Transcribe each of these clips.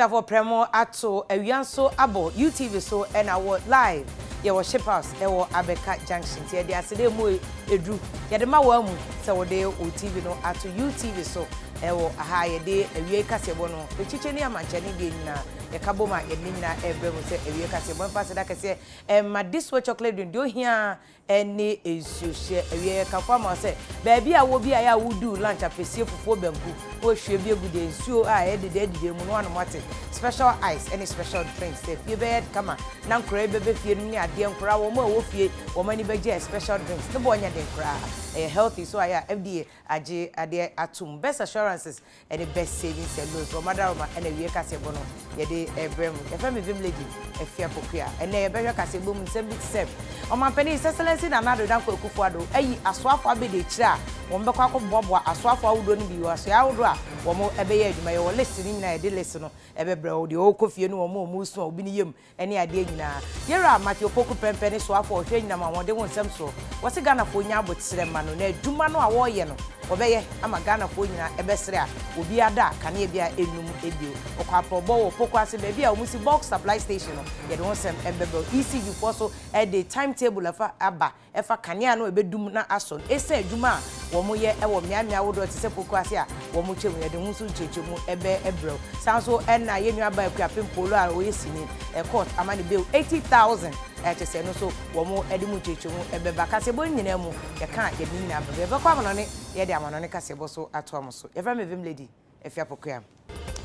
Tafo Prɛmo ato awia nso abɔ UTV so ɛna awɔ live yɛwɔ ship house ɛwɔ Abɛka junction nti yɛde ase dɛ ɛmu ɛduru yɛde ma wo amu sɛ wode wo TV no ato UTV so ɛwɔ aha yɛde awiei kaseɛbɔ no ɛkyikyɛ ni amankyɛne deɛ nyinaa yɛka bom a yɛde ne nyinaa ɛbrɛ mu sɛ awiei kaseɛbɔ mfa aseda kɛseɛ ɛma Diswa chocolate drink deɛ ohia ɛne nsuo hyɛ awia yɛ kafo ama wo sɛ baabi a wɔ biaɛ a woduu lunch apɛsie fufuo banku na wahwie bi agu deɛ nsuo a ɛyɛ dede adidi amu na wanom ate special ice ɛne special drinks sɛ fie bɛyɛ kama na nkoraa yi bɛbɛ fie nom ne adeɛ nkoraa wɔn a ɛwɔ fie wɔn ani bɛgye a special drinks ne bɔ nyɛ den koraa ɛyɛ healthy so ayɛ a FDA agye adeɛ atom best assurances ɛne best saving sɛ loans wɔn adaroma ɛna awie kaseɛbɔ no yɛde ɛbrɛ mu yɛfrɛ me vim lady afia pokuya ɛnɛ yɛbɛhwɛ kaseɛbɔ mu nsɛm bi te sɛ ɔmampanin his excellency nana ado dankwa akufo ado ayi asoafo abɛdi akyire a wɔn bɛkɔ akɔboaboa asoafo ahodoɔ no bi wɔ asoɛ ahodoɔ a wɔn ɛbɛyɛ adwuma yɛwɔ list no nyinaa yɛde list no ɛbɛbrɛ wo deɛ ɔkɔ fie no wɔn a wɔn resu a obi ne yam Ɛne adeɛ nyinaa. Gerald Mark yɛ Opoku Prempeh ne soafoɔ a ɔhwɛ anyinam ahoɔden ho nsɛm soɔ. Wɔse Ghanafoɔ nya aboterɛ mma no na adwuma no a wɔreyɛ no wɔbɛyɛ ama Ghanafoɔ nyinaa ɛbɛsrɛ a obiara da a kanea biara ɛnnum bio. Ɔkɔ aprɔbɔ wɔ Opoku ase baabi a wɔsi bulk supply station no yɛde ho nsɛm ɛbɛbrɛ wo. ECGfoɔ so ɛde time table ɛfa aba. ɛfa kanea no a ebedum na asɔ no esiane adwuma a wɔyɛ wɔ mmeaemmeae ahodoɔ te sɛ Poku ase a wɔtwam yɛn de ho nso nkyerɛkyerɛmu bɛyɛ brɛoo. Saa ara nso na yɛn nuabaa Akuapem Polo a ɔyɛ sini kɔɔt ama ne bail eighty thousand te sɛ no nso wɔde mu nkyerɛkyerɛmu bɛba kaseɛbɔ no nyinaa mu. Yɛka a yɛde ne nyinaa ba bɛ. Yɛbɛkɔ amanɔne na yɛde amanɔne kaseɛbɔ nso atoa mo so. Yɛfrɛ me Vim Lady. afi apokoa mu.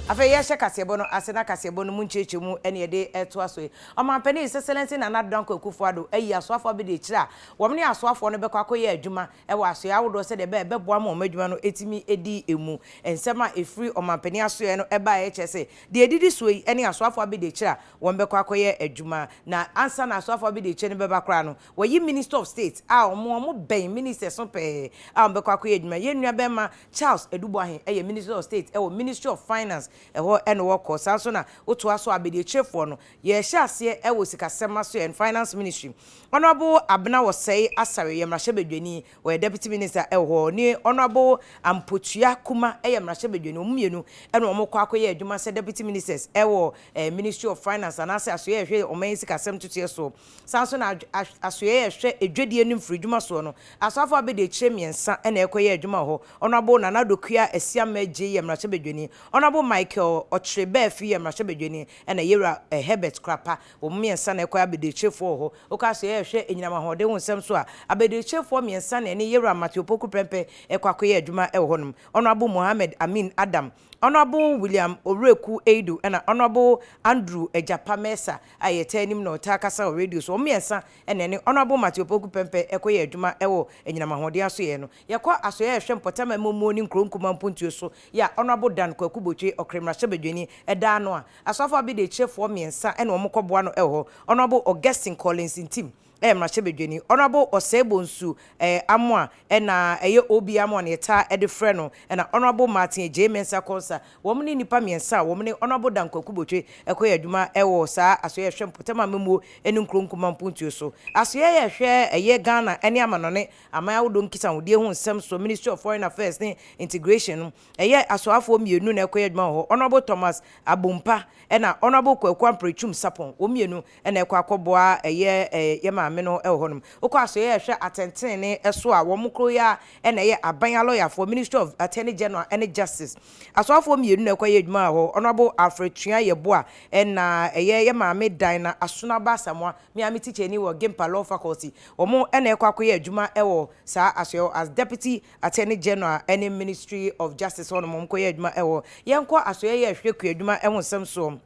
Afei yɛhyɛ kaseɛbɔ no ase na kaseɛbɔ no mu nkyerɛkyerɛmu ne yɛde retoa so yi. Ɔmanpanin His Excellency Nana Addo Dankwa Akufo-Addo ayi asoafoɔ abɛdi akyire a wɔn ne asoafoɔ no bɛkɔ akɔyɛ adwuma wɔ asoɛeɛ ahodoɔ sɛdeɛ ɛbɛyɛ a ɛbɛboa ma wɔn adwuma no atumi adi mu. Nsɛm a ɛfiri ɔmanpanin asoɛeɛ no baeɛ kyerɛ sɛ deɛ ɛdidi soɔ yi ne asoafoɔ abɛdi akyire a wɔn bɛkɔ akɔyɛ adwuma na ansa na asoafoɔ abɛdi akyire no bɛba koraa no wɔayi Minister of State a wɔn wɔn bɛn Ministers no pɛɛ a wɔn bɛkɔ akɔyɛ adwuma. Yɛn nuabarima Charles Aduboahe yɛ Minister of State wɔ Ministry of Finance, ɛhɔ na ɔkɔ. Saa ara nso na wotoa so a abadiakyirefoɔ no, yɛhyɛ aseɛ wɔ Sikasɛm Asoɛeɛ and Finance Ministry. Honourable Abena Osei Asare yɛ Mmarahyɛbadwani, ɔyɛ Deputy Minister wɔ hɔ. Ɔne Honourable Ampotua Kuma yɛ Mmarahyɛbadwani, wɔn mmienu na wɔkɔ akɔyɛ adwuma sɛ Deputy Ministers wɔ Ministry of Finance anaasɛ Asoɛeɛ a ɛhwɛ ɔman yi sikasɛm ntotoeɛ soɔ. Saa ara nso na asoɛe a ɛhwɛ adwadie ne mfiridwuma soɔ no, Asɔafo Abedi akyire mmiɛnsa na ɛrekɔyɛ adwuma wɔ hɔ. Honourable Nana Dokua Asiamah Adjei yɛ mmarahyɛbadwani, Honourable Michael Ɔkyere Baafi yɛ mmarahyɛbadwani ɛna Yewura Herbert Krapa. Wɔn mmiɛnsa na ɛrekɔyɛ abadiakyirefoɔ wɔ hɔ. Wokɔ asoɛe a ɛhwɛ anyinam ahoɔden ho nsɛm so a, abadiakyirefoɔ mmiɛnsa na ɛne Yewura Matthew Opoku Prempeh rekɔ akɔyɛ adwuma wɔ hɔnom, Honourable Mohammed Amin Adam, Honourable William Owuraku Eidu na Honourable Andrew Agyapa Mensah a yɛtaa nim na ɔtaa kasa wɔ radio so. Wɔn mmiɛnsa na ɛne Honourable Matthew Opoku Pɛmpɛ kɔyɛɛ adwuma wɔ anyinam ahoɔden asoɛeɛ no. Yɛkɔ asoɛeɛ a ɛhwɛ mpɔtam amammuo ne nkuro nkumaa mpuntuo so yɛ a Honourable Dan Kwaku Botwe, Ɔkra mmarahyɛbadwani, da ano a, Asɔafo abadiakyirefoɔ mmiɛnsa ne wɔn kɔboa no wɔ hɔ, Honourable Augustine Collins Ntim, ɛyɛ mmarahyɛbadwani, Honourable Osei-Bonsu eh, Amoah, ɛna ɛyɛ OB Amoah na yɛtaa de frɛ no, ɛna Honourable Martin Agyei Mensah Konsah, wɔn ne nnipa mmiɛnsa a wɔn ne Honourable Dan Kwaku Botwe kɔyɛ adwuma wɔ saa asoɛeɛ a ɛhwɛ mpɔtam amammuo ne nkuro nkumaa mpontuo so, asoɛeɛ a ɛhwɛ ɛyɛ Ghana ne amanɔne aman ahodoɔ nkisahodeɛ ho nsɛm soɔ, Ministry of Foreign Affairs ne Integration no, ɛyɛ asoafoɔ mmienu na ɛkɔyɛ adwuma wɔ hɔ, Honourable Thomas Abompah ɛna Honourable Kwaku Ampare Twum Sapon, wɔn mmienu Ɛna ɛkɔ akɔboa ɛyɛ yɛ maame no wɔ hɔ nom. Wokɔ asoɛeɛ a ɛhwɛ atɛntenenee so a, wɔn koro yi ara ɛna ɛyɛ aban alɔyafoɔ, Ministry of Attorney General ɛne Justice. Asɔafoɔ mmienu na ɛkɔyɛ adwuma wɔ hɔ, Honourable Alfred Tua Yeboah ɛna ɛyɛ yɛ maame Dinah Asunaba Asamoah, me ara me tikyani wɔ Gimpa Law Faculty. Wɔn ɛna ɛkɔ akɔyɛ adwuma wɔ saa asoɛeɛ hɔ as Deputy Attorney General ɛne Ministry of Justice hɔ nom, wɔn kɔyɛ adwuma wɔ hɔ. Yɛnkɔ asoɛeɛ a ɛhwɛ kuadwuma ho nsɛm soɔ.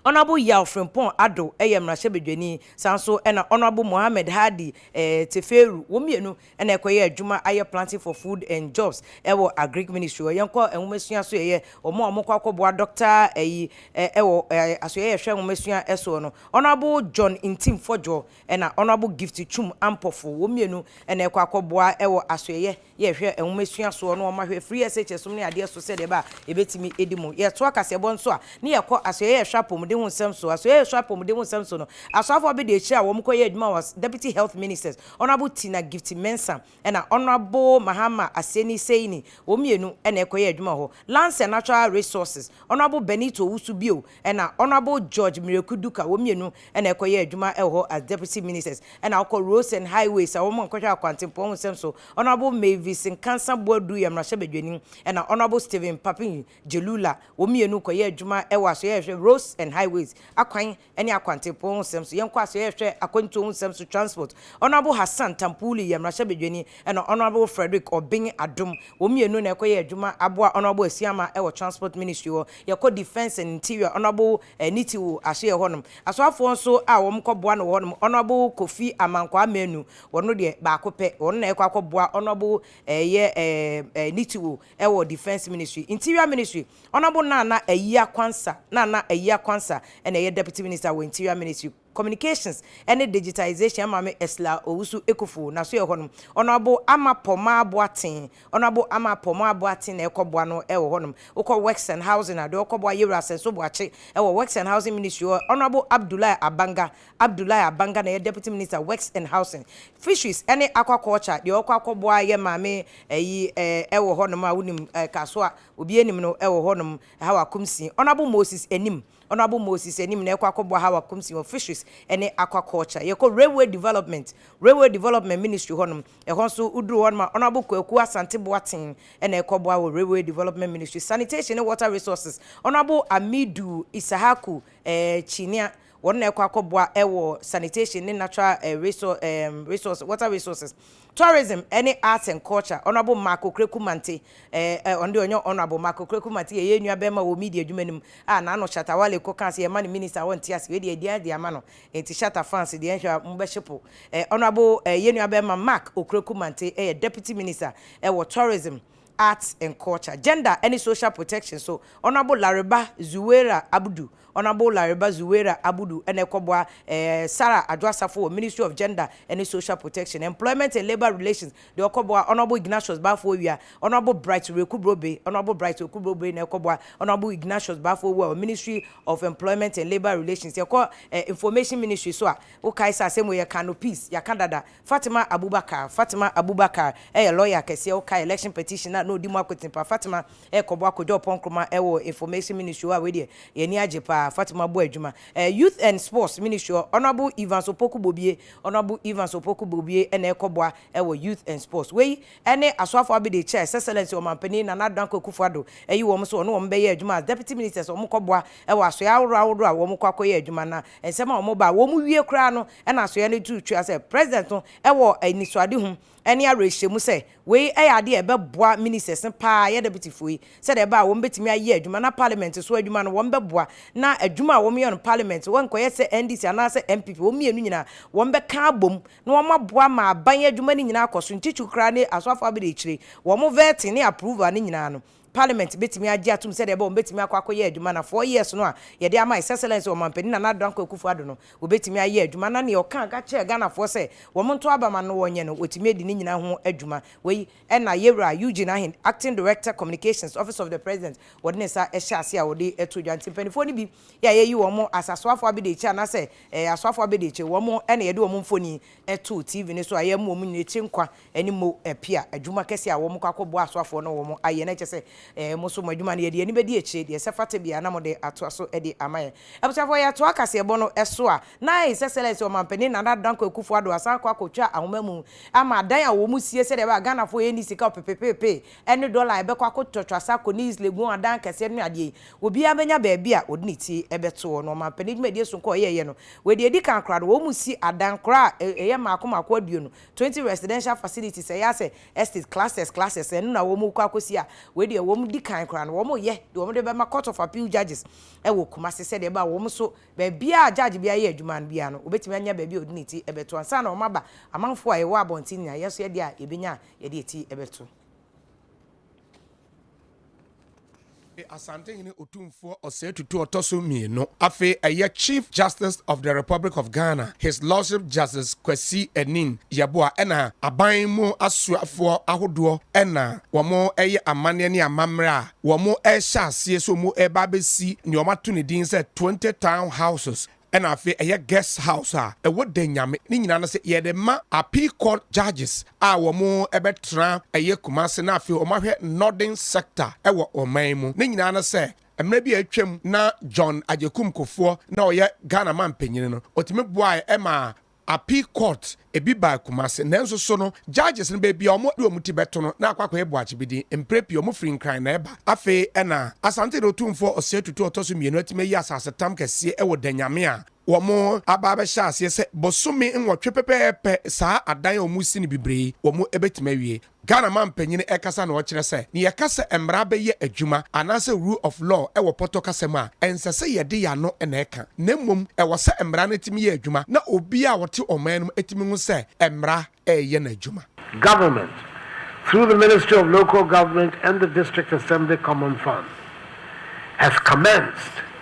Honourable Yaw Frimpong Addo yɛ mmarahyɛbadwani, saa ara nso na Honourable Mohammed Hadi Tefeeru, wɔn mmienu na ɛkɔyɛɛ adwuma ayɛ Planting for Food and Jobs wɔ Agric Ministry hɔ. Yɛnkɔ nwomasua asoɛeɛ, wɔn a wɔkɔ akɔboa Dɔkta ayi wɔ asoɛeɛ a ɛhwɛ nwomasua soɔ no, Honourable John Ntim Fɔdwoɔ, Ɛna Honourable Gift Twum Ampofo, wɔn mmienu na ɛkɔ akɔboa wɔ asoɛyɛ yɛ hwɛ nwoma esua soɔ no wɔn ahwɛ firi SHS nom ne adeɛ so sɛdeɛ ɛbɛ a yɛbɛtumi adi mu. Yɛtoa kaseɛbɔ nso a ne yɛkɔ asoɛyɛ yɛ hwɛ apɔmuden ho nsɛm so. Asoɛyɛ yɛ hwɛ apɔmuden ho nsɛm so no, asoafoɔ abɛdi akyire a wɔn kɔ yɛ adwuma wɔ Deputy Health Ministers, Honourable Tina Gift Mensah, na Honourable Mahama Aseni Seini, wɔn mmienu na ɛkɔyɛɛ adwuma wɔ hɔ. Lands and Natural Resources, Honourable Benito Owusu bio na Honourable George Miraku Duka, wɔn mmienu na ɛkɔyɛɛ adwuma wɔ hɔ as Deputy Ministers. Ɛna wokɔ Roads and Highways a, wɔn kɔhwɛ akwantempɔn ho nsɛm so, Honourable Mavis Nkansah Boadu yɛ mmarahyɛbadwani, ɛna Honourable Stephen Papin Jelula, wɔn mmienu kɔyɛɛ adwuma wɔ Asoɛeɛ a ɛhwɛ Roads and Highways, akwan ɛne akwantepɔn ho nsɛm so. Yɛn kɔ aso yɛhwɛ akwantuo ho nsɛm so transport. Honourable Hassan Tampuli yɛ mmarahyɛbadwani ɛna Honourable Frederick Obeng Adom. Wɔn mmienu na ɛkɔ yɛ adwuma aboa Honourable Asiamah ɛwɔ transport ministry hɔ. Yɛkɔ defence and interior Honourable Nitiwu aso yɛ hɔnom. Asoafoɔ nso a wɔn kɔ boa no wɔ hɔnom Honourable Kofi Amankwaa Manu wɔn no deɛ baako pɛ wɔn na ɛkɔ akɔ boa Honourable ɛyɛ ɛɛ Nitiwu ɛwɔ Defence Ministry, Interior Ministry, Honourable Nana Ayia Quansah, Nana Ayia Quansah, ɛna ɛyɛ Deputy Minister wɔ Interior Ministry, Communications ɛne Digitisation, Ɛmaame Ursula Owusu Ekuful, na so yɛ hɔnom, Honourable Ama Pomaa Boateng, Honourable Ama Pomaa Boateng na ɛkɔ boa no ɛwɔ hɔnom, wokɔ Works and Housing a, deɛ ɔkɔ boa Yewura Sɛnso Boakye ɛwɔ Works and Housing Ministry hɔ, Honourable Abdullahi Abanga, Abdoulaye Abanga na ɛyɛ Deputy Minister Works and Housing, Fisheries ne Aquaculture, deɛ ɔkɔ akɔboa yɛ maame ayi ɛɛ wɔ hɔnom a wonim ɛɛ Kaso a obiara nim no wɔ hɔnom, Hawa Kumsii. Honourable Moses Anim, Honourable Moses Anim na ɛkɔ akɔboa Hawa Kumsii wɔ Fisheries ne Aquaculture. Yɛkɔ Railway Development, Railway Development Ministry hɔnom, ɛhɔ nso woduru hɔnom a Honourable Kwaku Asante Boateng na ɛkɔboa wɔ Railway Development Ministry. Sanitation ne Water Resources, Honourable Amidu Issahaku ɛɛ Kyiniah, Wɔn na ɛkɔ akɔboa wɔ sanitation ne natural resources, water resources, tourism ne arts and culture. Honourable Mark Okraku Mante, eh, ɔno deɛ ɔnyɛ Honourable, Mark Okraku Mante yɛyɛ nua bɛrima wɔ media adwuma no mu, a n'ano Shatta Wale kɔkaa sɛ yɛma no minister a ɔnte ase, wei deɛ yɛde ade ama no, enti Shatta fans deɛ nhwɛ a mobɛhyepo. Eh, Honourable, eh, yɛn nua bɛrima Mark Okraku Mante yɛ Deputy Minister wɔ tourism, Arts and Culture, Gender ne Social Protection so Honourable Lariba Zuwaira Abdu. Honourable Lariba Zuwaira Abdu na ɛkɔboa eh Sarah Adwo Asafo wɔ Ministry of Gender ne Social Protection, Employment and Labour Relations deɛ ɔkɔboa Honourable Ignatius Bafo Awia, Honourable Bright Reku Brobe, Honourable Bright Reku Brobe na ɛkɔboa Honourable Ignatius Bafo Awua wɔ Ministry of Employment and Labour Relations. Yɛkɔ eh Information Ministry so a, wokae sɛ asɛm wei yɛkaa no piece, yɛaka dada, Fatima Abubakar Fatima Abubakar yɛ lɔya kɛseɛ wokae election petition a na ɔdi mu akoten paa Fatima rekɔbɔ akɔgya ɔpɔn Nkrumah wɔ information ministry hɔ a wei deɛ yɛn ani agye paa Fatima bɔ adwuma ɛɛ youth and sports ministry hɔ Honourable Evans Opoku Bobie Honourable Evans Opoku Bobie na ɛrekɔboa wɔ youth and sports wei ne asoafoɔ abɛde kyɛ a His Excellency Ɔmanpanin Nana Addo Dankwa Akufo Addo ayi wɔn sɛ wɔne wɔn bɛyɛ adwuma as deputy ministers wɔkɔboa wɔ asoɛeɛ ahoroɔ ahoroɔ a wɔkɔ akɔyɛ adwuma na nsɛm a wɔba a wɔwie koraa no na asoɛe no tu twaa sɛ President no wɔ anisoadehu ne awerɛhyɛmu sɛ wei yɛ ade a ɛbɛboa Ministers no pa ara, yɛ Deputyfoɔ yi, sɛdeɛ ɛbɛyɛ a wɔbɛtumi ayɛ adwuma na Parliament so adwuma no wɔbɛboa na adwuma a wɔyɛ no Parliament so ɛnkɔyɛ sɛ NDC anaasɛ NPP, wɔn mmienu nyinaa wɔbɛka abom na wɔaboa ma aban adwuma no nyinaa akɔ so, nkyekyew koraa ne asoafo abɛdi akyire, wɔn vetting ne approval no nyinaa no. Parliament betumi agye atom sɛ dɛbɛ wɔbetumi akɔ akɔyɛ adwuma na four years no a yɛde ama His Excellency Ɔmanpanin Nana Addo Dankwa Akufo Addo no wɔbetumi ayɛ adwuma na nea ɔka ka kyerɛɛ Ghanafoɔ sɛ wɔn nto aba ma no wɔnyɛ no wɔtumi adi ne nyinaa ho adwuma. Wei na Yewura Eugene Ahen, Acting Director Communications, Office of the President, wɔde ne nsa hyɛ aseɛ a ɔde to dwa. Nti mpaninfoɔ no bi yɛ a yɛyi wɔn as Asoafoɔ Abediekyire anaasɛ Asoafoɔ Abediekyire wɔn na yɛde wɔn mfonin to TV no so a yɛma wɔn nyina akyire nkwa ɛne mo apia adwuma kɛseɛ a wɔkɔ akɔboa asoafoɔ no wɔn ayɛ na ɛkyɛ sɛ eh, mo nso mo adwuma no yɛde yɛn ani bɛdi akyire, deɛ ɛsɛ fata biara na mode atoa so de ama yɛn. Abusuafoɔ, yɛtoa kaseɛbɔ no so a, na ayɛ sɛ sɛlɛs ɔmampanin Nana Dankwa Akufo Addo asan akɔ akɔtwa ahoma mu ama adan a wɔsie sɛdeɛ ɛbɛyɛ a Ghanafoɔ yɛnni sika ɔpepepepe ɛne dɔla a yɛbɛkɔ akɔtɔ twasa akɔ Niis Legon adan akɛseɛ no ne adeɛ yi, obiara bɛnya baabi a ɔde ne ti bɛtoɔ na ɔmampanin dwumadie sononko a ɔyɛeɛ no, wei deɛ ɛdi kan koraa no, wɔsi adan koraa a ɛyɛ mmaako mmaako aduonu Twenty residential facilities a ɛyɛ asɛ estate clusters clusters ɛno na wɔn rekɔ akɔsi a wei deɛ wɔn di kan koraa no wɔn reyɛ deɛ wɔn de bɛma court of appeal judges ɛwɔ Kumasi sɛdeɛ ɛbɛ a wɔn nso baabiara judge biara yɛ adwuma no biara no obetumi anya baabi a ɔde ne ti ɛbɛto ansa na wɔn aba amanfoɔ a yɛwɔ abɔnten nyinaa yɛn nso yɛdeɛ a yɛbɛnya a yɛde ti ɛbɛto. E Asantehene Otumfoɔ Osei Tutu Ɔtɔ so Mmienu, afei ɛyɛ Chief Justice of the Republic of Ghana, His Lordship Justice Kwasi Aning Yeboah ɛna aban mu asoafoɔ ahodoɔ ɛna wɔreyɛ amanneɛ ne amammerɛ a wɔrehyɛ aseɛ sɛ wɔreba abɛsi nea wɔato ne din sɛ 20 Town Houses Ɛna afei ɛyɛ guest house a ɛwɔ Denyame ne nyinaa no sɛ yɛde ma appeal court judges a wɔn ɛbɛtra ɛyɛ Kumasi na afei wɔn ahwɛ northern sector ɛwɔ ɔman mu ne nyinaa no sɛ mmerɛ bi a atwam na John Agyekum Kufuor na ɔyɛ Ghana man panyin no ɔtumi boaɛ ɛmaa Appeal court ebi baa Kumasi nanso so no judges no baabi a wɔn de wɔn ti bɛto no na akɔ akɔyɛ boakyibidi, mprɛ pii wɔn firi Nkran na ɛba. Afei na Asante na Otumfoɔ Osei Tutu a ɔtɔ so mmienu atumi ayi asasetam kɛseɛ wɔ Danyame a wɔn aba abɛhyɛ aseɛ sɛ bosome nwɔtwe pɛpɛɛpɛ saa adan a wɔresi no bibire yi wɔn bɛtumi awie. Ghana mampanyin kasa na ɔkyerɛ sɛ ne yɛka sɛ mmara bɛyɛ adwuma anaasɛ rule of law wɔ pɔtɔ kasa mu a, ɛnsɛ sɛ yɛde yɛn ano na ɛka, na mmom ɛwɔ sɛ mmara no tumi yɛ adwuma na obiara a ɔte ɔman no mu tumi hu sɛ mmara reyɛ n'adwuma. Government, through the Ministry of Local Government and the District Assembly Common Fund, has commenced.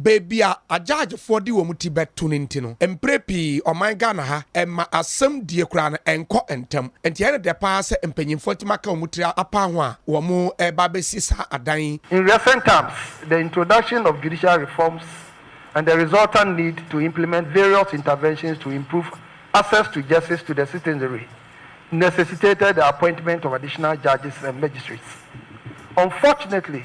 Baabi a agyaagyefoɔ de wɔn ti bɛto no nti no, mprɛ pii ɔman Ghana ha ɛmma asɛm die koraa no ɛnkɔ ntɛm. Nti ɛyɛ no dɛ paa sɛ mpanyinfoɔ atumi aka wɔn tiri apa ho a wɔn reba abɛsi saa adan yi. In recent times, the introduction of judicial reforms and the resultant need to implement various interventions to improve access to justice to the citizenry necessitated the appointment of additional judges and magistrates. Unfortunately,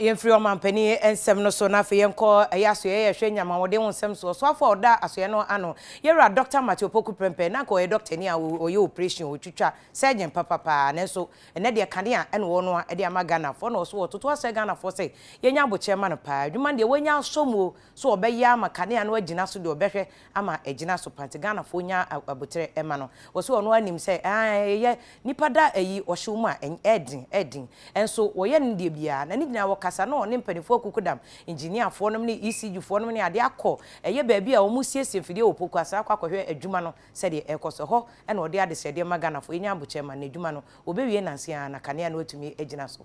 Yɛmfiri ɔmampanin nsɛm no so na afei yɛnkɔ ɛyɛ asoɛeɛ yɛhwɛ nyamahoɔden ho nsɛm so. Ɔsoafoɔ a ɔda asoɛeɛ no ano, yɛwura Dɔkta Matthew Opoku Prempeh, na anka ɔyɛ dɔktani a ɔyɛ oprehyɛn, ɔtwitwa, surgeon papapaa. Nanso ɛnnɛ deɛ kanea na ɔnoa de ama Ghanafoɔ na ɔso ɔtoto asrɛ Ghanafoɔ sɛ yɛnyɛ abokyerɛ ma no paa. Adwuma no deɛ wanya asɔ mu o, so ɔbɛyɛ ama kanea no agyina so deɛ ɔbɛhwɛ ama agyina so paa nti Ghanafoɔ nya aboterɛ ɛma no wɔ sɛ ɔno ara nim sɛ aah ɛyɛ nipa da ayi ɔhyew mu a ɛɛden ɛɛden nso wɔyɛ no deɛ biara na ne nyinaa wɔkasa na ɔne mpaninfoɔ akukudam engineerfoɔ nom ne ECG foɔ nom ne adeɛ akɔ ɛyɛ baabi a wɔn siesie mfidie wɔ Poku Asra akɔ akɔhwɛ adwuma no sɛdeɛ ɛɛkɔ so ɛhɔ na ɔde adesrɛdeɛ ma Ghanafoɔ yɛnya abokyerɛ ma no na adwuma no wɔbɛwie nanse ara na kanea no atumi agyina so.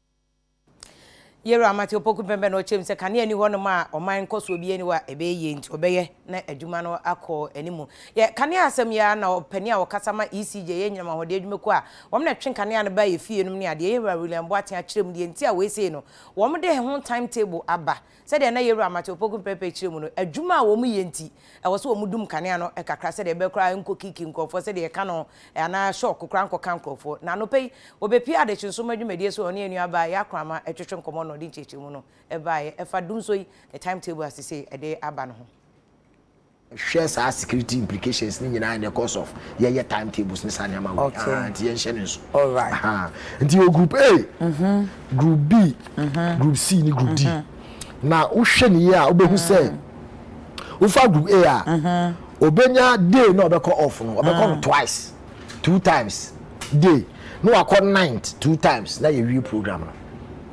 Yero Amartey Opoku Mpempɛ na ɔkyerɛ mu sɛ kanea nni hɔnom a ɔman nkɔsoɔ biara nni hɔ a ɛbɛyɛ yie nti ɔbɛyɛ na adwuma no akɔ anim. Yɛ kanea asɛm yi ara na ɔpanin a ɔkasa ma ECJ yɛ anyinam ahoɔden adwumakuo a wɔn na ɛtwe kanea no ba efie nom ne adeɛ yɛ Hira William Boateng akyerɛ mu deɛ nti a wei sei no wɔn de ho time table aba Sɛdeɛ na Yɛwura Matthew Opoku Mprempren kyerɛ mu no, adwuma a wɔyɛ nti, ɛwɔ sɛ wɔdum nkanea no kakra sɛdeɛ ɛbɛyɛ koraa ɛnkɔkiiki nkorɔfoɔ sɛdeɛ yɛka no anaa shock koraa nkɔka nkorɔfoɔ. Na anɔpa yi, wɔbɛpue adehye nsoromma dwumadie so a ɔne yɛn nua baa Yaa Kramah retwetwe nkɔmmɔ na ɔde nkyerɛkyerɛmu no baeɛ ɛfa Dumsɔ yi ne time table a sesei ɛde aba no ho. hwɛ saa security implications ne nyinaa in the course of yɛyɛ time tables ne saa nneɛma wei Okay. aha nti yɛnhyɛ no nso Alright. aha nti wɔ group A group B group C ne group D na wohwɛ ne yie a wobɛhu sɛ wofa group A a ɔbɛnya day na ɔbɛkɔ off no ɔbɛkɔ no twice two times day na wakɔ ninth two times na yɛwie program no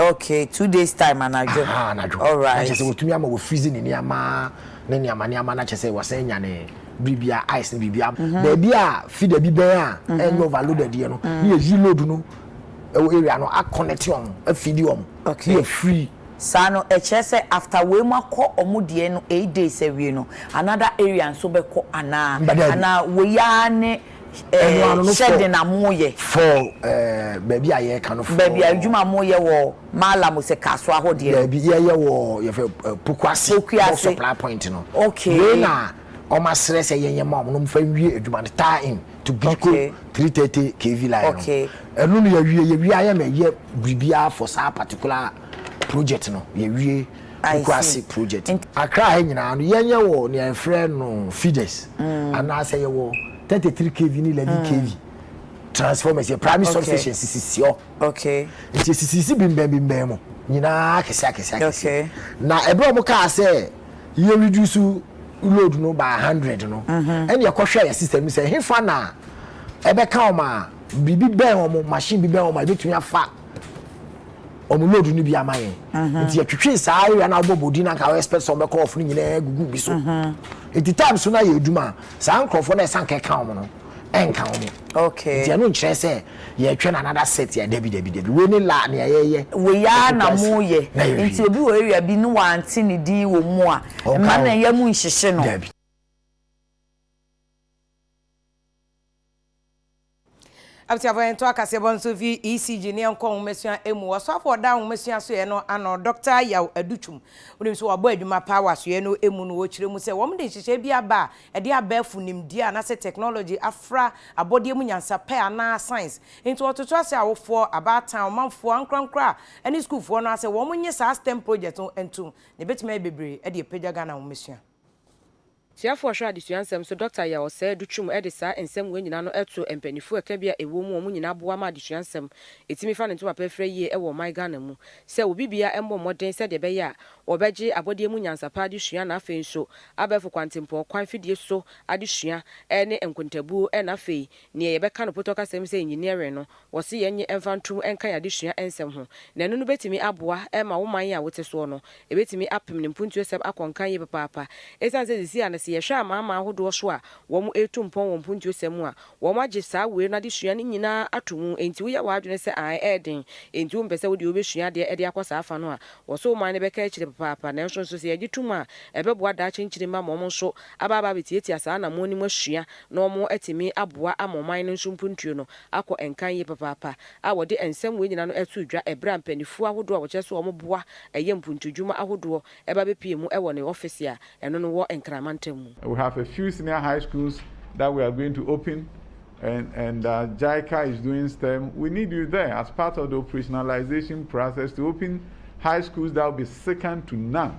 Okay, two days time anadwo. Aha, anadwo. All right. Akyɛ sɛ wɔtumi ama wɔ freeze ne nneɛma ne nneɛma nneɛma na akyɛ sɛ wɔsɛn nyane biribia ice ne biribia. Mhm. Baabi a feeder bi bɛn a mhm. ɛnyɛ overloaded yɛ no ne yɛ yi load no ɛwɔ area no akɔnɛte wɔn afidi wɔn ne yɛ free saa no ɛkyerɛ sɛ after wei mu akɔ ɔmo deɛ no eight days awie no another area nso bɛkɔ anaa anaa wei ara ne. eh, hyɛ den a moyɛ. Fɔɔ eh, baabi a yɛreka no fɔɔ. Baabi a adwuma a moyɛ wɔ Mala mo sɛ car so ahɔdeɛ no. Daabi, yɛyɛ wɔ yɛfɛ eh, Pokuase. Pokuase. Bɔ supply point no. Okay. Wei na wɔn asrɛ sɛ yɛnyɛ ma wɔn, na wɔn fa nwie adwuma no, tie in to Bidco okay. 330 KV line no. Okay. Ɛno no yɛwie, yɛwie ayɛ na ɛyɛ biribiara for saa particular project no, yɛwie Nkurase project no. Accra ha nyinaa no, yɛnyɛ wɔ nea yɛfrɛ no feeders anaasɛ yɛwɔ 33 KV ne 11 KV transformers, yɛ primary substation sisisi hɔ. Nti esisisi bembɛn bembɛn mu nyinaa akɛse akɛse akɛse. Na ɛberɛ a wɔkaa sɛ yɛ reduce load no by 100 no, ɛnna yɛkɔhwɛɛ yɛ system no sɛ hefa na ɛbɛka wɔn a biribi bɛn wɔn, machine bi bɛn wɔn a ebetumi afa wɔn load no bi ama yɛn mhm. nti yɛtwetwee saa area na wɔbɔ bɔdi na nka wɔyɛ expect sɛ wɔbɛkɔ ɔfo no nyinaa gugu bi so mhm. nti time so na yɛ adwuma saa nkurɔfoɔ na ɛsan e kɛka wɔn no ɛnka e wɔn okay nti ɛno nkyerɛ sɛ yɛtwɛ na another set yɛ dabi dabi dabi wei ne la nea yɛyɛ weyaa na mo yɛ nti obi wɔ area bi ne wante ne din wɔ mu a mma na yɛ mu nhyehye no Abusuafo yɛn to akaseɛbɔ nso fi ECG ne yɛn kɔ nwomasua emu. Ɔsoafo ɔda nwomasua soɛ no ano, Dɔkta Yaw Adutwum. Wonim nso wabɔ adwuma paa wɔ asoɛ no emu no ɔkyerɛ mu sɛ wɔn de nhyehyɛɛ bi aba a ɛde abɛɛfo nimdeɛ anaasɛ technology afra abɔdeɛ mu nyansapɛ anaa science. Nti ɔtoto ase awofoɔ, abaatan, ɔmanfoɔ, ankorankoro a ɛne sukuufoɔ no ara sɛ wɔn nye saa stem project no ntom na ɛbɛtumi ayɛ bebree de apagya Ghana nwomasua. Tiafoɔ a ɔhwɛ adesua nsɛm so Dɔkta Yaw Ɔsɛɛ Duchum de saa nsɛm wei nyinaa no to mpaninfoɔ a ɛkabea a ɛwɔ mu wɔn nyinaa boa ma adesua nsɛm ɛtumi fa ne ntoma pɛrɛfrɛ yie wɔ ɔman Ghana mu sɛ obi biara mmɔ mmɔden sɛdeɛ ɛbɛyɛ a ɔbɛgye abɔdeɛ mu nyansa pa adesua na afei nso abɛɛfo kwantempɔn kwan fidie so adesua ne nkontabuo na afei neɛ yɛbɛka no potɔkasɛm sɛ engineering no Wɔse yɛnnye mfa ntom nka yɛn adesua nsɛm ho, na ɛno no bɛtumi aboa ma wo man yi a wote soɔ no, ɛbɛtumi apem ne mpuntuosɛm akɔ nkan yie papaapa. Ɛsiane sɛ seesei ano sɛ yɛhwɛ amanaman ahodoɔ so a wɔretu mpɔn wɔ mpuntuosɛm mu a, wɔagye saa wei no adesua no nyina ara ato mu, enti woyɛ w'adwene sɛ ae ɛyɛ den, enti wompɛ sɛ wode wobɛsua adeɛ de akɔ saa afa no a, wɔse wo man no bɛka akyire papaapa. Nanso nso sɛ yɛgye tom a, ɛbɛboa daakye nkyirimma ma wɔn nso aba abɛtiatia saa anammɔn no mu asua na wɔatumi aboa ama ɔman no nso mpuntuo no akɔ nkan yie papaapa a wɔde nsɛm wei nyinaa no ɛtoo dwa ɛberɛ a mpaninfoɔ ahodoɔ a wɔkyerɛ sɛ wɔn boa ɛyɛ mpuntudwuma ahodoɔ ɛba bɛpuee mu ɛwɔ ne ɔfese a ɛno no wɔ Nkran mantam mu. We have a few senior high schools that we are going to open and and uh, JICA is doing STEM. We need you there as part of the operationalization process to open high schools that will be second to none.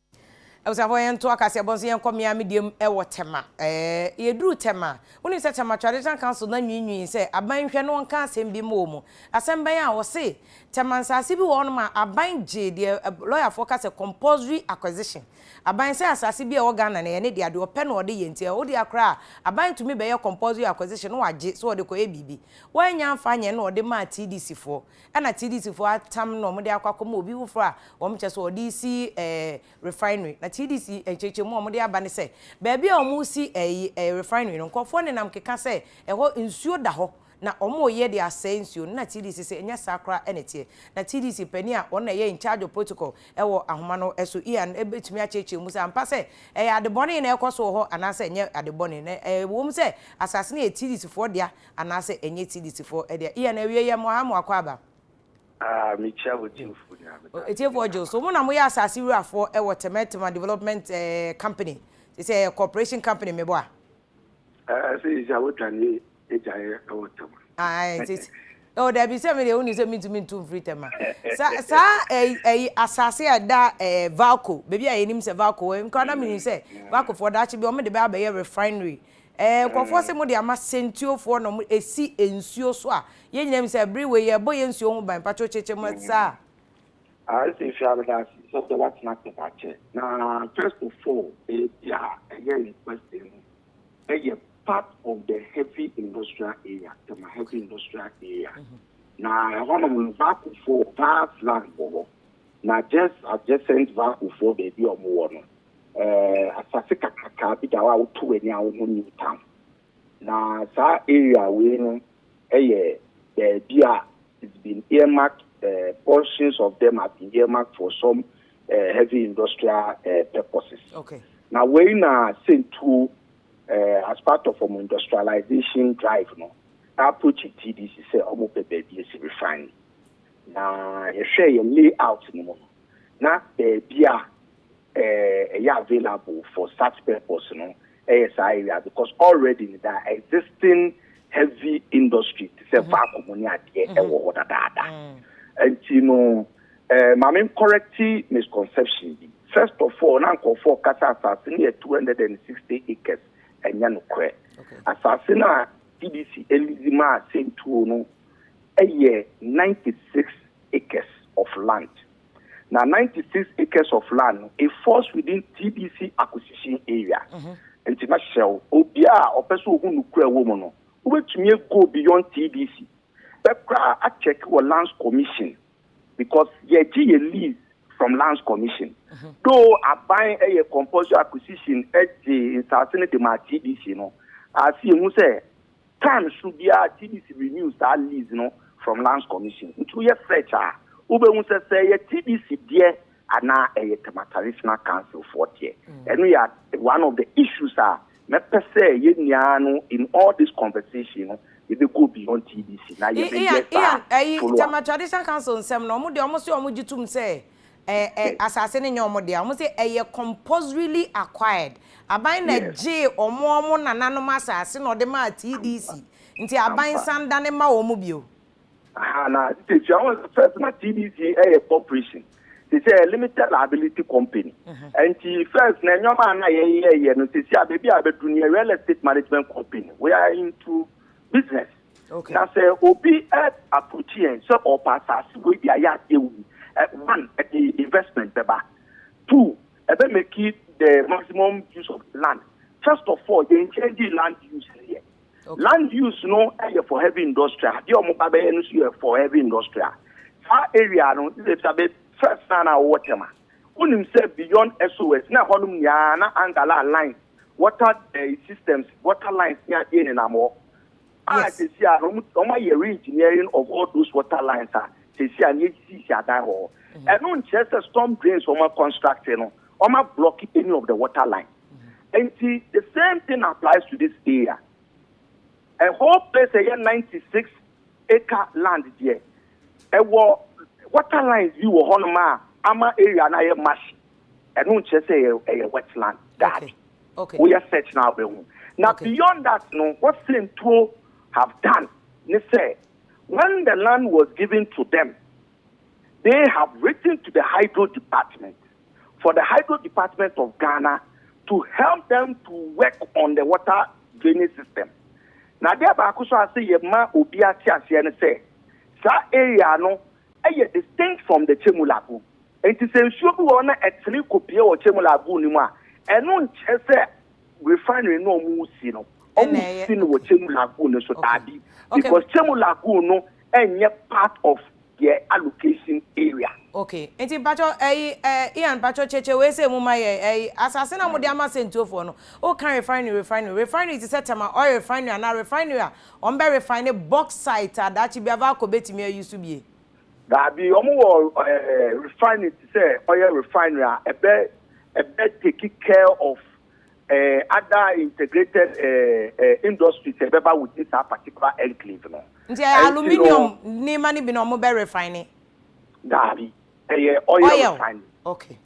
Abusuafoɔ yɛnto akaseɛ bɔ nso yɛnkɔ me ara me deɛ mu wɔ Tema. Ɛɛ yɛduru Tema, wonim sɛ Tema Traditional Council no anwiinwii sɛ aban nhwɛ na wɔnka asɛm bi mma wɔn. Asɛm bɛn a? Wɔse Tema nsaase bi wɔ hɔnom a aban gyee deɛ lɔyafoɔ ka sɛ compulsory acquisition. Aban sɛ asaase bi a ɛwɔ Ghana no ɛyɛ ne dea, deɛ ɔpɛ na ɔde yɛ nti ɛwɔ dea koraa a aban tumi bɛyɛ compulsory acquisition na wɔagye sɛ wɔde kɔyɛ biribi. Wɔannya amfa anyɛ na wɔde maa TDCfoɔ. Ɛna TDC foɔ atam na wɔde akɔ akɔma obi foforɔ a wɔn kyɛ so ɔde resi ɛɛ refinery. Na TDC nkyerɛkyerɛmu a wɔde aba ne sɛ baabi a wɔresi ɛyi ɛɛ refinery no nkorɔfoɔ nenam keka sɛ ɛhɔ nsuo da hɔ na wɔreyɛ de asɛe nsuo no na TDC se ɛnyɛ saa koraa na ɛteɛ. Na TDC panin a ɔno na ɛyɛ in charge of protocol ɛwɔ ahoma no so Ian bɛtumi akyerɛkyerɛ mu sɛ ampa sɛ ɛyɛ ade bɔne na ɛrekɔ so wɔ hɔ anaasɛ ɛnyɛ ade bɔne. Na ɛwɔ mu sɛ asase no yɛ TDC foɔ dea Anaasɛ ɛnyɛ TDC foɔ ɛdeɛ. Ian awieɛ yɛ moaha moakɔ aba. Aah me kyia wo tiefo nyinaa me da ase Ɔtiefoɔ Gills, wɔn na wɔyɛ asase wurafoɔ wɔ Tema Tema Development Company, te sɛ ɛyɛ corporation company me boa. Ɛɛ seisei a w'adwane agyaeɛ wɔ Tema. Ae seisei oh dabi sɛ me deɛ wonim sɛ mentumi ntu mfiri Tema. Sa saa ɛyi ɛyi asase a ɛda ɛɛ Valco baabi a yɛnim sɛ Valco wɔ me koraa na menim sɛ Valcofoɔ daakye bi wɔn de bɛ abɛyɛ refinery Ɛɛ, nkurɔfoɔ se mode ama Sentiofoɔ na wɔn ɛsi nsuo so a, yɛn nyinaa nim sɛ ɛbere wei yɛrebɔ yɛn nsuo ho ban, mpakyɛw kyekyɛ mu saa a. Ase hwɛ abɛdaase sɛ wode watena ase da kyɛ na first of all baabi a ɛyɛ ne kwasee no ɛyɛ part of the heavy industrial area tema heavy industrial area na ɛhɔ nom no vakufoɔ vast land wɔ hɔ na just adjacent vakufoɔ baabi a ɔmo wɔ no asase kakrakaa bi da hɔ a woto w'ani a wohu Newtown. Na saa area wei no yɛ baabi a it's been earmarked, uh, portions of them have been earmarked for some uh, heavy industrial uh, purposes. Okay. Na wei na Sentuo uh, as part of um, industrialization drive no na approach TDC sɛ wɔn pɛ baabi esi refine. Na yɛhwɛ yɛ layout no mu no na baabi a ɛyɛ available for such purpose no yɛ saa area because already no da existing heavy industry te sɛ vacuum ne adeɛ ɛwɔ hɔ dadaada nti no eh, ma me correct misconception bi first of all na nkurɔfoɔ kasa asase no yɛ 260 acres ɛnyɛ nokorɛ asase no a DDC elidi maa sentuo no ɛyɛ 96 acres of land na ninety six acres of land no it falls within TBC acquisition area. Nti mɛhyɛ wo, obi a ɔpɛ sɛ ohu nukura wɔ mu no, wobɛtumi a go beyond TBC. Bɛkora a check wɔ lands commission because yɛgye yɛ lease from lands commission. Though aban yɛ compulsory acquisition gye nsaase no de maa TBC no, a sɛ yɛhu sɛ Kan so biara TDC renew saa lease no from Lands Commission. Nti woyɛ search a, wobɛhu sɛ sɛ ɛyɛ TDC deɛ anaa ɛyɛ Tema Traditional Council foɔ deɛ. Ɛno yɛ one of the issues a mɛpɛ sɛ yɛn nyinaa no in all this conversation no yɛbɛ go beyond TDC na yɛbɛyɛ saa follow up. Ian, ɛyi Tema Traditional Council nsɛm no, wɔn deɛ wɔn se wɔn gye tom sɛ Ɛ ɛ asase no nyɛ wɔn dea. Wɔn se ɛyɛ compulsorily acquired. Aban na Yes. gyee wɔn wɔn nananom asase na ɔde maa TDC. Nti aban Ampa. san dane ma wɔn bio. Aha na titirikyia wɔn sɛ first na TDC ɛyɛ corporation. Te sɛ ɛyɛ limited liability company. Nti first na nneɛma a na yɛyɛɛyɛ no sɛsi a baabi a abɛduru no yɛ real estate management company. We are into business. Na sɛ obi ɛ approach yɛn sɛ ɔɔpɛ asaase wei de ayɛ adeɛ wɔ mu, ɛ one, ɛde investment bɛba, two, ɛbɛ make the maximum use of the land, first of all, yɛn change land use no yɛ, land use no yɛ for heavy industrial, adeɛ a wɔn ba bɛyɛ no nso yɛ for heavy industrial. Saa area no, ne bɛbisa bɛ first na na wɔwɔ Tema, wonim sɛ beyond SOS na ɛhɔ nom nyinaa na Angala lines, water ɛ systems, water lines ne adeɛ nenam hɔ, a sɛsi a no ɔma yɛ re-engineering of all those water lines a sɛsi a no yɛsisi adan wɔ hɔ. Mm-hmm. Ɛno nkyerɛ sɛ storm drains ɔma construct no ɔma block any of the water line. Mm-hmm. Nti the same thing applies to this area. A whole place ɛyɛ 96 acre land deɛ ɛwɔ water lines bi wɔ hɔnom a ama area no ayɛ mash. Ɛno nkyerɛ sɛ ɛyɛ wetland. Dabi. Okay. wo yɛ search na wobɛhu na beyond that no what Sentuo have done ne sɛ when the land was given to them they have written to the hydro department for the hydro department of Ghana to help them to work on the water drainage system na adeɛ baako so ase yɛ ma obi ate aseɛ ne sɛ saa area no ɛyɛ distinct from the Chemulago Enti sɛ nsuo bi wɔ hɔ na ɛtene kɔpue wɔ Kyemu Lagoon no mu a, ɛno nkyerɛ sɛ refinery no a wɔresi no, wɔresi no wɔ Kyemu Lagoon no so. Daabi, because Kyemu Lagoon no nyɛ part of their allocation area. Okay, enti mpakyɛw ɛyi eh, Ian mpakyɛw kyekyɛ wei sei mu ma yɛn, ɛyi asase no a wɔde ama sɛntuofoɔ no, woka refinery refinery, refinery te sɛ Tema oil refinery anaa refinery a wɔbɛ refine bauxite a daakye biara Valco bɛtumi a use bie. Daabi, wɔn wɔ refinery te sɛ oil refinery a ɛbɛ ɛbɛ take care of other integrated industries ɛbɛ ba within saa particular enclave no. Nti ɛyɛ aluminium nneɛma no bi na wɔn bɛ refine. Daabi, ɛyɛ oil refinery. Oil, okay.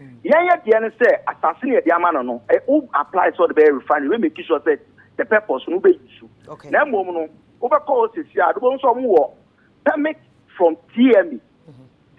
Yɛn yɛ deɛ no sɛ asase na yɛde ama no no ɛ wo apply sɛ ɔde bɛyɛ refinery wobɛ make sure sɛ the purpose no wobɛ use na mmom no wobɛ kɔ hɔ sɛsi a wobɛhu sɛ ɔmo wɔ permit from TMA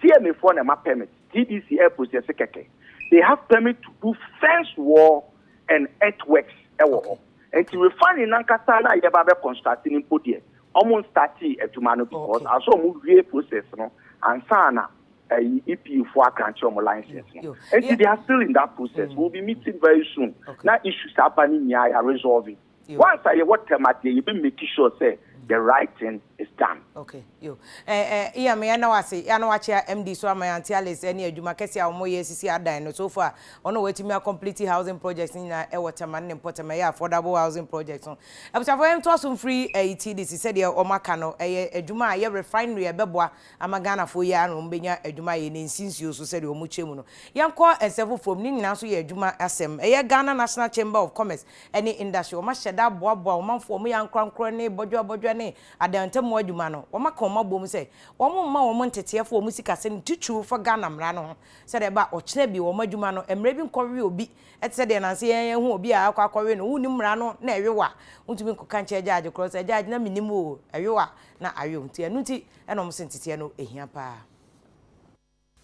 TMA foɔ na ɛma permit TDC air process kɛkɛ they have permit to do fence wall and earthworks ɛwɔ hɔ nti refinery nankasa na yɛba bɛ construct no mpo deɛ ɔmo startee adwuma no because aso ɔmo wie process no ansa na ɛyi EP fo aka akyerɛ wɔn license no nti they are still in that process we will be meeting very soon na issues aba ne nyinaa yɛ resolve once a yɛwɔ term adeɛ yɛ bɛ make sure sɛ the right thing is done. okay yo ɛɛ eh, eh, iya meya na wase ya na wakyea MD so ama yɛn Alice ɛne adwuma kɛse a wɔyɛ sisi adan no so far ɔno wɔatumi a complete housing projects no nyinaa ɛwɔ tɛma ne mpɔtam ɛyɛ affordable housing projects no abusuafo yɛn ntoa so mfiri ɛyi ti de si sɛdeɛ wɔn aka no ɛyɛ adwuma a ɛyɛ refinery a ɛbɛboa Ama Ghanafoɔ yi ara na wɔn bɛnya adwuma ayɛ na ɛnsi nsuo so sɛdeɛ wɔn kyerɛ mu no. Yɛnkɔ nsɛm foforɔ mu, ne nyinaa nso yɛ adwuma asɛm. Ɛyɛ Ghana National Chamber of Commerce ne Industry, wɔn ahyɛ da aboaboa wɔn manfoɔ, wɔyɛ ankorankorɛ ne bɔdwoa bɔdwoa ne adan ntamu adwuma no. Wɔn aka wɔn abom sɛ wɔn mma wɔn nteteɛfoɔ wɔn sikasɛm titiriw fa Ghana mmara no ho sɛdeɛ ɛba a ɔkyena bi wɔn adwuma no mmara bi nkɔwe obi te sɛ deɛ nansa yi yɛahu obi a akɔ akɔwe no, wonnim mmara no na ɛwe wo a wontumi nkɔka nkyerɛ gyagye korɔ sɛ gyagye na mennim oo ɛwe wo a na awe wo nti ɛno nti Ɛna wɔn se nteteɛ no hia paa.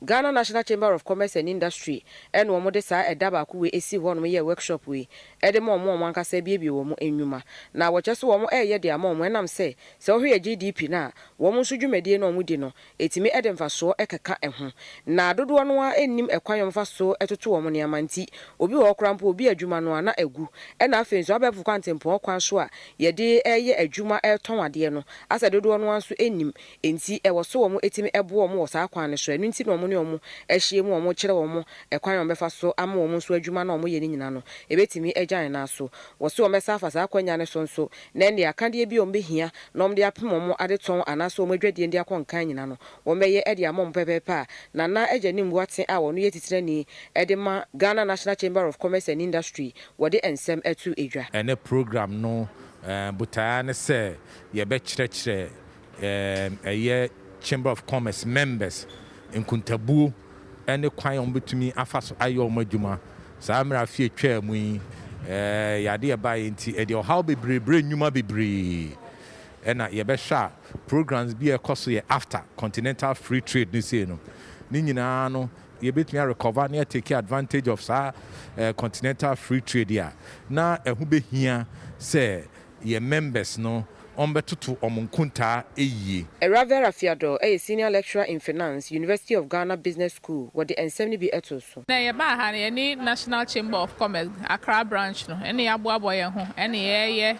Ghana National Chamber of Commerce and Industry ɛna wɔn de saa ɛda baako wei ɛsii hɔ nom yɛɛ workshop wei ɛde ma wɔn wɔn ankasa abiebie wɔn nnwuma na wɔkyerɛ sɛ wɔn ɛɛyɛ de ama wɔn ɛnam sɛ sɛ wohwɛ yɛ GDP no a wɔn nso dwumadie no a wɔn di no ɛtumi ɛde mfasoɔ ɛkeka ɛho na dodoɔ no ara nnim ɛkwan wɔn fa so ɛtoto wɔn nneɛma nti obi wɔ hɔ koraa mpo obi adwuma no ara na agu ɛna afei nso abɛɛfo kwantempɔn kwan so a Yɛde reyɛ adwuma retɔn adeɛ no, asɛ dodoɔ no ara nso nnim, enti ɛwɔ so wɔn tumi boa wɔn wɔ saa kwan no so, ɛno nti na wɔn ne wɔn ahyia mu a wɔn kyerɛ wɔn ɛkwan a wɔn bɛfa so ama wɔn nso adwuma no a wɔn yɛ no nyina no ɛbɛtumi agya yɛn nan so, wɔ se wɔn bɛsan afa saa akwanya no so nso na ɛnneɛ akadeɛ bi a wɔn bɛhia na wɔn de apem wɔn adetɔn anaa sɛ wɔn adwadie no de akɔ nkan nyina no wɔn bɛyɛ de ama wɔn pɛpɛɛpɛ a Nana Agyanim Boateng a ɔno yɛ titirani de ma Ghana National Chamber of Commerce and Industry wɔde nsɛm to dwa. Ɛnnɛ program no botae ara ne sɛ yɛbɛkyerɛkyerɛ ɛyɛ Chamber of Commerce members nkontabuo ne kwan a wɔbɛtumi afa so ayɛ wɔn adwuma saa mmerɛ afe a ɛtwaa mu yi. Ɛyɛ adeɛ a ɛbaeɛ nti ɛde ɔhaw bebree brɛ nnwuma bebree. Ɛna yɛbɛhwɛ a programs bi a ɛkɔ so yɛ after Continental Free Trade no sei no, ne nyinaa no yɛbɛtumi a recover na yɛ take advantage of saa continental free trade yi a, na ɛho bɛhia sɛ yɛn members no wɔbɛtoto wɔn nkontaa yie. Awurade Afiador yɛ Senior Lecturer in Finance, University of Ghana Business School, wɔde nsɛm no bi too so. Nnɛ yɛbaa ha no, yɛne National Chamber of Commerce, Accra Branch no ne yɛaboaboa yɛn ho ne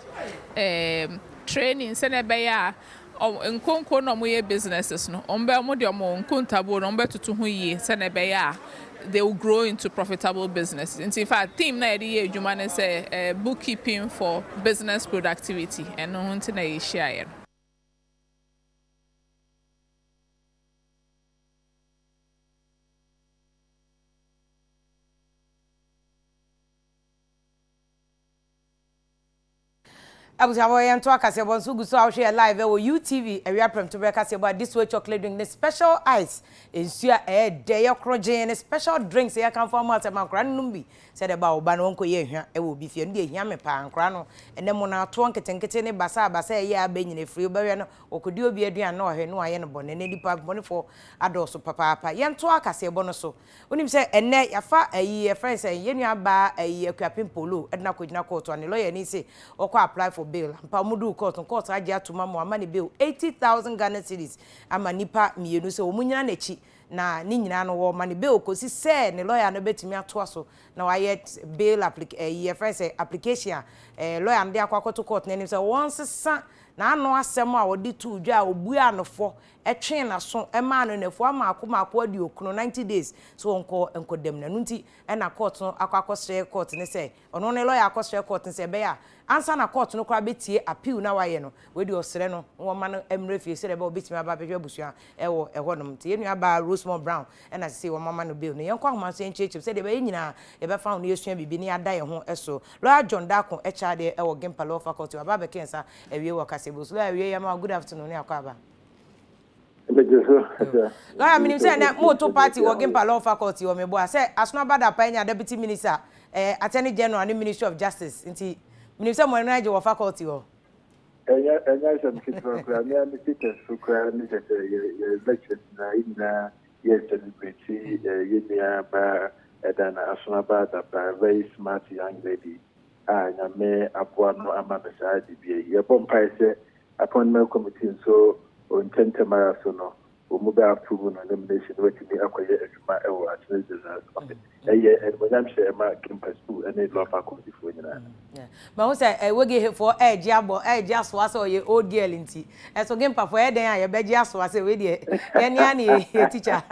yɛreyɛ training sɛdeɛ ɛbɛyɛ a Wɔn nkonko na wɔyɛ businesses no, wɔn bɛ wɔn deɛ wɔn nkontabuo no wɔn bɛ toto ho yie sɛdeɛ ɛbɛyɛ a they will grow into profitable businesses. Nti in fact theme na yɛde yɛ adwuma ne sɛ ɛɛ book keeping for business productivity ɛno ho nti na yɛ hyia yɛ no. Abusuafo yɛn ntoa kaseɛbɔ nso gu so a wohwɛ yɛ live ɛwɔ UTV awia prɛmto berɛ kaseɛbɔ a this way chocolate drink ne special ice nsuo a ɛyɛ dɛ yɛ koro gyee ne special drinks yɛ kanfo ama sɛ ma nkora no nom bi sɛ dɛ ba wo ba no wɔn kɔ yɛ ahwa ɛwɔ obi fie no deɛ hia me paa nkora no ɛnɛ mo na atoɔ nketenkete ne basa a basa ɛyɛ a bɛ nyina efiri wobɛhwɛ no wɔkɔdi obi aduane na ɔhwɛ no ayɛ no bɔne ne nipa bɔnefoɔ adɔɔso papaapa yɛn toa kaseɛbɔ no so Wonim sɛ ɛnnɛ yɛafa ayi yɛfrɛ no sɛn, yɛn nua baa ayi Akuapem Polo de no akɔgyina court ano, ne lawyer ni se ɔkɔ apply for bail, ampa wɔn duu court no court no agye atom ama wɔama no bail eighty thousand Ghana cedis ama nnipa mmienu sɛ wɔn nyina n'akyi na ne nyina no wɔma no bail kɔsi sɛ ne lawyer no bɛtumi atoa so na wayɛ bail applic ayi yɛfrɛ no sɛ application a eh, lawyer no de akɔ akɔto court no anim sɛ wɔnsesa n'ano asɛm a ɔde too dwa a ɔbuaa no fɔ twee n'aso maa no nnafua mmaako mmaako aduokron, ninety days, sɛ ɔnkɔ nkɔ dam no. Ɛno nti na kɔɔto no akɔ akɔsrɛ kɔɔto no sɛ, ɔno ne lɔya akɔsrɛ kɔɔto no sɛ ɛbɛyɛ a ansa na kɔɔto no koraa bɛtie appeal no a wayɛ no, wei deɛ ɔsrɛ no na wɔmma no mmra fie sɛdeɛ ɛbɛyɛ a ɔbɛtumi aba abɛhwɛ abusua wɔ ɛhɔnom. Nti yɛn nuabaa Rosemore Brown na seesei wɔama no bail no. Yɛnkɔ ahoma nso yɛnkyerɛkyerɛ mu sɛdeɛ ɛbɛyɛ yɛn nyinaa yɛbɛfa ho na yɛasua biribi na yɛada yɛn ho so. Lɔya John Darko kyerɛ adeɛ wɔ Gimpa Law Faculty, waba abɛka yɛn nsa awie wɔ kasebo so lɔya awie yɛ ma good afternoon ne akɔ aba. ɛbɛgye so ɛsɛ. lɔya menim sɛ ɛnɛ moto party wɔ gimpa law faculty wɔ meboa sɛ asono aba da pa anya deputy minister ɛɛ attorney general ne ministry of justice nti menim sɛ mo ani agye wɔ faculty hɔ. ɛnyɛ ɛnyɛ asɛm ketewa koraa me a me status so koraa ne sɛ sɛ yɛ yɛ lectures na yɛ nyinaa yɛ celebrate yɛ nua baa ɛda na asono aba da pa very smart young lady. a Nyame aboa no ama no saa dibea yi. Yɛbɔ mpae sɛ Appointment Committee nso wɔ ntɛmntɛm ara so no wɔn mu bɛ approve no nomination na watumi akɔyɛ adwuma wɔ Attorney General's Office. Ɛyɛ animuonyamhyɛ ɛma Kempa School ne Law Faculty foɔ nyinaa. Mahu sɛ Wage foɔ ɛregye abɔ ɛregye asoa sɛ ɔyɛ old girl nti, ɛso Kempa foɔ ɛyɛ dɛn a yɛbɛgye asoa sɛ wei deɛ yɛne ara ne yɛ teacher.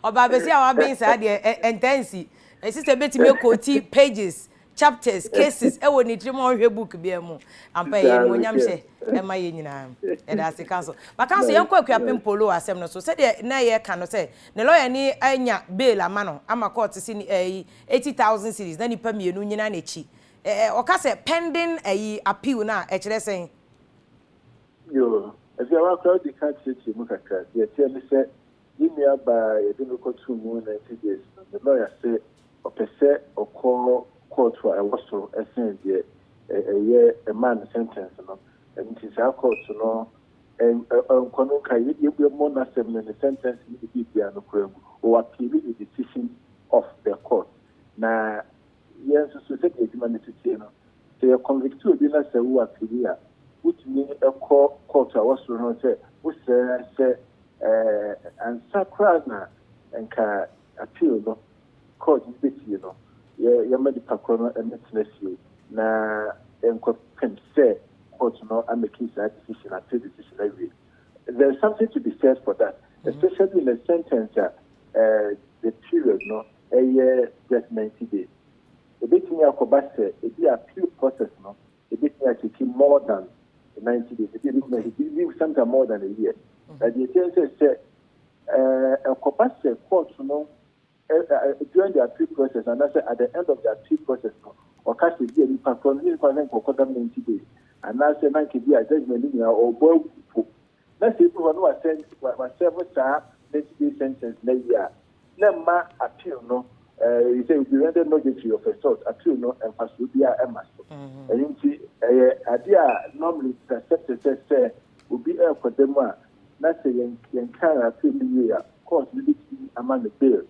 Ɔbaa basia a waben saa deɛ ɛntɛnsi, ɛsisɛ bɛtumi ɛkɔɔti pages chapters, cases wɔ ne tirim a ɔnhwɛ book biara mu. Ampa ɛyɛ animuonyam hyɛ ɛma yɛn nyinaa. Yɛda ase counsel. But counsel yɛnkɔ Akuapem Polo asɛm no so. Sɛdeɛ na yɛka no sɛ ne lawyer ni anya bail ama no ama court se ni ɛyi eighty thousand cedis na nipa mmienu nyina n'akyi. Ɛ ɛ ɔka sɛ pending ɛyi appeal no a ɛkyerɛ sɛn? Yoo, ɛfia wakora wode ka kyerɛkyerɛ mu kakra. Deɛ ɛteɛ ne sɛ Me nua baa a yɛde no kɔtoo mu ninety days no, ne lɔya sɛ ɔpɛ sɛ ɔkɔ kɔɔto a ɛwɔ soro sen deɛ ɛyɛ ɛmaa no sentence no nti saa kɔɔto no nkɔ no nka yɛmmɔ n'asɛm no ne sentence no ne biribiara no koraa mu. Ɔapiili the decision of the court na Yɛn nso so, sɛdeɛ adwuma no siteɛ no, sɛ yɛ convicte obi na sɛ wo appeali a, wotumi kɔ kɔɔto a ɛwɔ soro no sɛ wosrɛ sɛ ansa koraa na nka appeal no kɔɔto no bɛtie no, yɛma nipa korɔ no mmɛtena fie na nkɔpem sɛ kɔɔto no amake saa decision, appeal decision no awie. There is something to be said for that, especially in a sentence a the period no ɛyɛ Judgement Day. Ebetumi akɔba sɛ ebi a appeal process no ebetumi a take more than the ninety days, ebi a ebetumi a take even sometimes more than a year. Na deɛ ɛteɛ ne sɛ sɛ eh, ɛkɔba sɛ court no eh, eh, during the appeal process anaasɛ at the end of the appeal process no ɔka sɛ bi a nipa korɔ no ne nipa sɛ nkɔkɔdam ninety days anaasɛ na nka bi a judgement no nyinaa ɔbɔ agu po Na sɛ edu hɔ na wɔasɛn wɔasɛɛvo saa ninety day sentence no awie a, na ɛmma appeal no ɛɛ sɛ will be rendered nugatory of a sort, appeal no mfasoɔ biara ɛmma so. Ɛno nti ɛyɛ adeɛ a normally it is accepted sɛ sɛ obi ɛrekɔ da mu a na sɛ yɛn yɛnkan no appeal no wie a court no bɛtumi ama no bail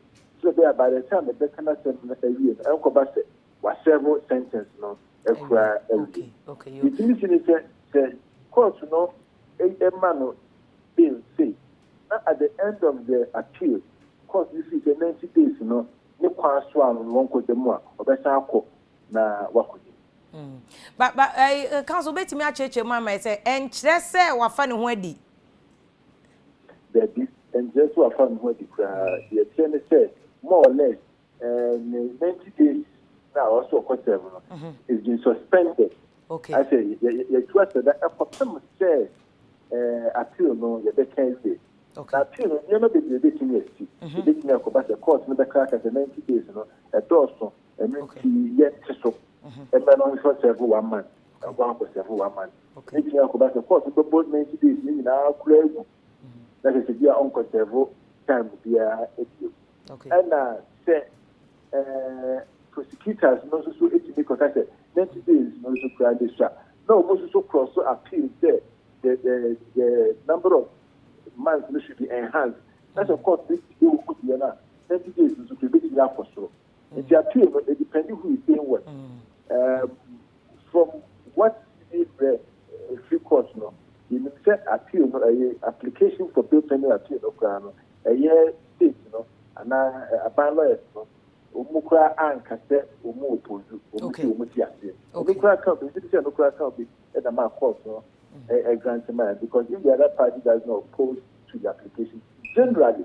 sɛdeɛ ɛbɛyɛ a by the time ɛbɛka n'asɛm no awie no ɛnkɔba sɛ wasɛɛvo sentence no akura awie. Deɛ ɛtumi si ne sɛ sɛ court no Eye ma no den sei, na at the end of the appeal, court no sii sɛ ninety days no ne kwan so ano no wɔnkɔ gya mu a, ɔbɛsan akɔ na wakɔgye no. Mm. But, but, eh, counsel, wobɛtumi akyerɛkyerɛ mu ama yɛ sɛ ɛnkyerɛ sɛ wafa ne ho adi? Dabi, ɛnkyerɛ sɛ wafa ne ho adi koraa. Deɛ ɛkyerɛ ne sɛ, more or less, and the ninety days na ɔwɔ so ɔkɔ sɛm no is been suspended okay asɛ yɛtu asɛda ɛkɔpem sɛ appeal no yɛbɛka awie na appeal no nneɛma bebree bɛtumi asi ɛbɛtumi akɔba sɛ court no bɛka aka sɛ ninety days no ɛdɔɔso ɛno nti yɛnte so ɛmɛ no nhwɛ sɛvo one man ɛnkɔ akɔ sɛvo one man ɛbɛtumi akɔba sɛ court no bɛbɔ ninety days no nyinaa kora agu na kyerɛ sɛ bia ɔnkɔ serve time biara bio. Ɛna sɛ ɛɛ prosecutors no nso so etumi kɔka sɛ ninety days no nso koraa de sua na wɔn nso so cross so appeal sɛ the the the number of months no should be enhanced na sɛ court bi ti wɔn mu deɛ no a ninety days no nso koraa ebetumi akɔ soro. nti appeal no it depend who is saying what um, from what we read free court no yɛnim sɛ appeal no ɛyɛ application for bail pending appeal no koraa no ɛyɛ state no anaa aban lawyers no wɔn koraa anka sɛ wɔn opozu wɔn ti wɔn ti aseɛ ɛno koraa kan bi nti sɛ ɛno koraa kan bi ɛna maa court no ɛgrant maa because if the other party does not oppose to the application generally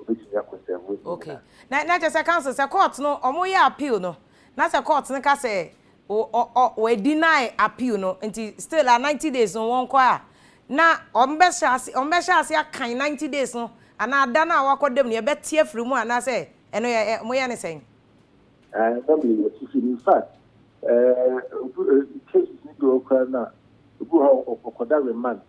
obetumi akɔ nsanmuyi mu Okay. na. Na na kyerɛ sɛ counsel sɛ court no wɔn yɛ appeal no na sɛ court no ka sɛ o ɔ ɔ wɔ deny appeal no nti still a ninety days no wɔn kɔ a na wɔn bɛ hyɛ ase wɔn bɛ hyɛ ase akan ninety days no anaa da no a wɔakɔ dam no yɛ bɛ te afiri mu anaa sɛ ɛno yɛ ɛ wɔn yɛ ne sɛn. Ɛɛ na mi yɛ sisi in fact ɛɛ obi ɛɛ cases ni bi wɔ koraa na ebi wɔ hɔ a ɔkɔda remand.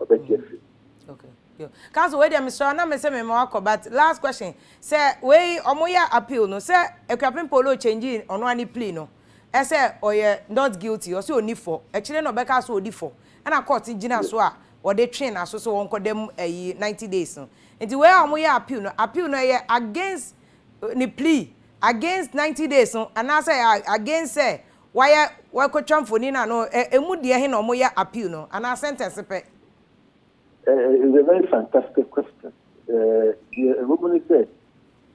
ɔbɛgye mm. afiri okay yo council wei deɛ mesrɛ na mesɛ mema wakɔ but last question sɛ wei ɔmoyɛ appeal no sɛ akuapem polo change ɔno a ne plea no ɛsɛ ɔyɛ not guilty ɔsɛ ɔni fɔ akyire na ɔbɛka so ɔdi fɔ ɛna court gyina so a wɔde twe n'aso sɛ wɔnkɔda mu ayi ninety days no nti wei a wɔyɛ appeal no appeal no ɛyɛ against eh, ne plea against ninety days no anaasɛ against sɛ Wayɛ wɔakɔtwa mfoni no ano ɛ ɛmu deɛ he na ɔmo yɛ appeal no anaa sentence pɛ? It is a very fantastic question. Deɛ ɛwɔ mu ne sɛ,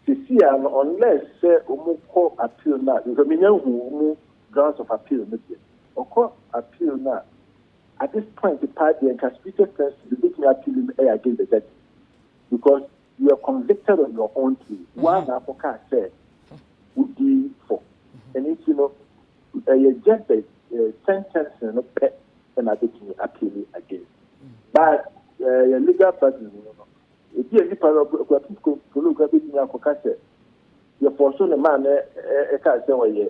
seesei ara no unless sɛ ɔmo kɔ appeal no a, because menya nhuu ɔmo grounds of appeal no deɛ, ɔkɔ appeal no a, at this point paa deɛ nka speechless person betumi appeal no ɛyɛ against the judgement because You are convicted on your own plea. Woara na akɔkaa sɛ wodii fɔ. Ɛno nti no, ɛyɛ Jabez sentencing no pɛ na abɛtumi appeal against. But yɛ legal burden mu no, ebi a nipa no kura physical polo kura bɛtumi akɔka sɛ yɛfɔɔso ne maame ɛkaa sɛ ɔyɛ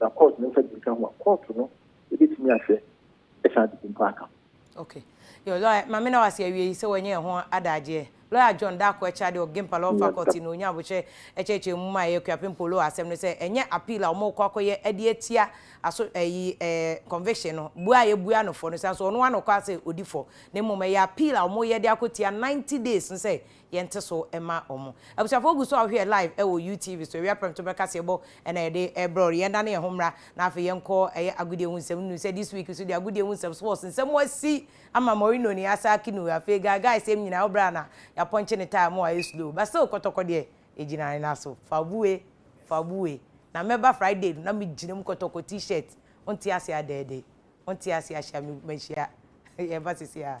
na kɔɔto no nsa di nka ho a, kɔɔto no bɛtumi ahwɛ saa ade bi mpo aka ho. Okay. Your lawyer, ma me na wase awieyi sɛ wanya ɛho adagyeɛ. Lawyer John Darko Akyira de Okgimpa Law Faculty na ɔnya abokyerɛ ɛkyerɛkyerɛ mu ma ɛyɛ Kuapem Polo wɔ asɛm no sɛ ɛnyɛ appeal a wɔrekɔ akɔyɛ ɛde atia aso ɛyi ɛɛ conviction no bua a yɛbua no fɔ no sane so ɔno ara na ɔkɔ asɛ ɔdi fɔ na mmom ɛyɛ appeal a wɔreyɛ de akɔtia ninety days no sɛ yɛnte so mma wɔn. Abusuafoɔ gu so a wohwɛ yɛ live ɛwɔ you TV so awia prɛmto berɛ kaseɛ bɔ ɛna yɛde ɛbrɛ wo. Yɛn dane yɛn ho mmra na afei yɛn kɔ ɛyɛ agodie ho nsɛm nunu sɛ this week so deɛ agodie ho nsɛm sports nsɛm asi ama Mourinho ne Asaki no afei guy guy sɛm nyinaa wo berɛ a na yɛapɔnkye ne tae mo ayɛ slow but still kɔtɔkɔ deɛ ɛgyina ne nan so fa bu wei fa bu wei na mɛba Friday no na me gyina mu kɔtɔkɔ t-shirt wonte aseɛ adɛɛdɛɛ wonte aseɛ ahyia me mahyia yɛba sisi a.